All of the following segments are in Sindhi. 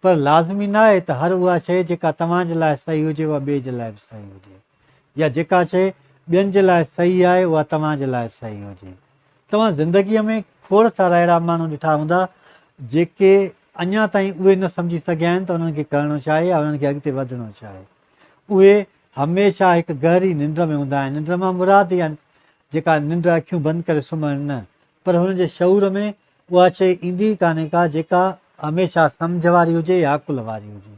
پر لازمي ناهي ته هر اها شيء جيڪا توهان جي لاء صحيح هجي اها ٻئي جي لاء به صحيح هجي يا جيڪا شيء ٻين جي لاء صحيح آهي اها توهان جي لاء صحيح هجي. توهان زندگيء ۾ کوڙ سارا اهڙا ماڻهو ڏٺا هوندا جيڪي اڃا تائين اهي نه سمجهي سگهيا آهن ته انهن کي ڪرڻو ڇا آهي يا انهن کي اڳتي وڌڻو ڇا آهي. اهي هميشه هڪ گهري ننڊ ۾ هوندا آهن، ننڊ مان مراد يعني جيڪا ننڊ اکيون بند ڪري سمهڻ نه پر هن جي شعور ۾ اها شيء ايندي ئي ڪانهي ڪا جيڪا هميشه سمجهه واري هجي يا عقل واري هجي.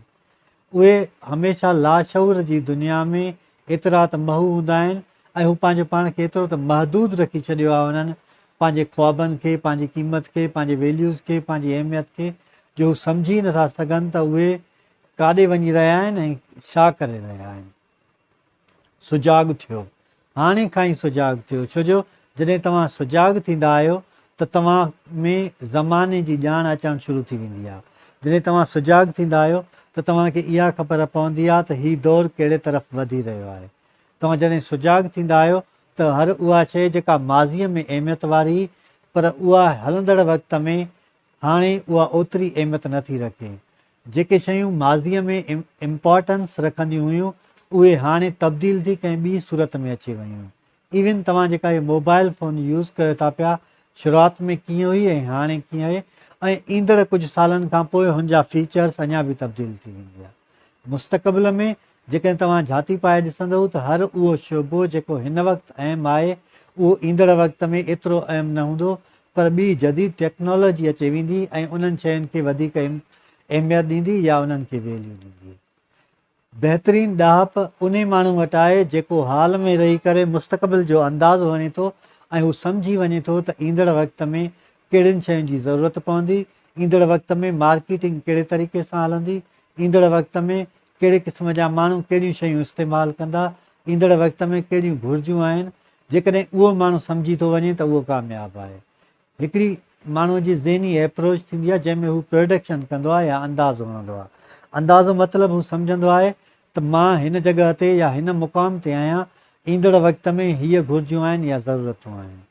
اهي هميشه لاشعور جي دنيا ۾ ايترا ته محو هوندا آهن ۽ هو پنهنجو پاڻ کي ايترو ته محدود رکي ڇڏيو آهي انهن پنهنجي خوابن کي، پنهنجي قيمت کي، پنهنجي ويليوز کي، پنهنجي اهميت کي جو هو سمجهي ئي نٿا سگهن ته اهي ڪاڏي وڃي رهيا آهن ۽ ڇا ڪري رهيا آهن. سجاڳ ٿيو، هاڻي کان ئي سجاڳ ٿيو، ڇو جو جڏهن توهان سجاڳ ٿيندا آهيو ته توهان ۾ زماني جي ڄاڻ اچڻ شروع ٿي ويندي آهي. جڏهن توهان سجاڳ ٿيندا آهيو ته توهان کي اها خبر پوندي آهي ته هي دور ڪهڙي طرف وڌي رهيو آهي. توهان جڏهن سجاڳ ٿيندا آهيو ته هر اها شيء جيڪا ماضيء ۾ اهميت واري هئي پر اها هلندڙ وقت ۾ هاڻي اها اوتري اهميت نه ٿي رکي. جيڪي شيون ماضيء ۾ امپارٽنس رکنديون هيون اهي هاڻي تبديل ٿي ڪنهن ٻي صورت ۾ اچي ويون. ايون توهان جيڪا هي موبائل فون يوز ڪيو ٿا پيا شروعات ۾ ڪيئن هئي ۽ هاڻي ڪيئن آهي ۽ ايندڙ ڪجهه سالن کانپوء هن جا فيچرز اڃا به تبديل ٿي وينديا. مستقبل ۾ جيڪڏهن توهان جهاتي پائي ڏسندئو ته هر اهو شعبو جيڪو هن وقت اهم آهي اهو ايندڙ وقت ۾ ايترو اهم نه هوندو پر ٻي جديد ٽيڪنالاجي اچي ويندي ۽ انهن شين کي وڌيڪ اهميت ڏيندي يا انهن کي ويليو ڏيندي. بهترين ڏاهپ انهي ماڻهو وٽ آهي جيڪو حال ۾ رهي ڪري مستقبل جو اندازو هڻي ٿو ۽ هو سمجهي وڃي ٿو ته ايندڙ وقت ۾ ڪهڙين شين جي ضرورت پوندي، ايندڙ وقت ۾ مارڪيٽنگ ڪهڙي طريقي سان هلندي، ايندڙ وقت ۾ ڪهڙي قسم جا ماڻهو ڪهڙيون شيون استعمال ڪندا، ايندڙ وقت ۾ ڪهڙيون گهرجون آهن، جيڪڏهن اهو ماڻهو سمجهي ٿو وڃي ته اهو ڪامياب آهي. هڪڙي ماڻهو جي ذهني ايپروچ ٿيندي آهي جنهن ۾ هو پرڊڪشن ڪندو آهي يا اندازو هڻندو آهي. اندازو مطلب هو سمجهندو آهي ته مان هن جڳهه تي يا هن مقام تي آهيان، ايندڙ وقت ۾ هيء گهرجون آهن يا ضرورتون آهن.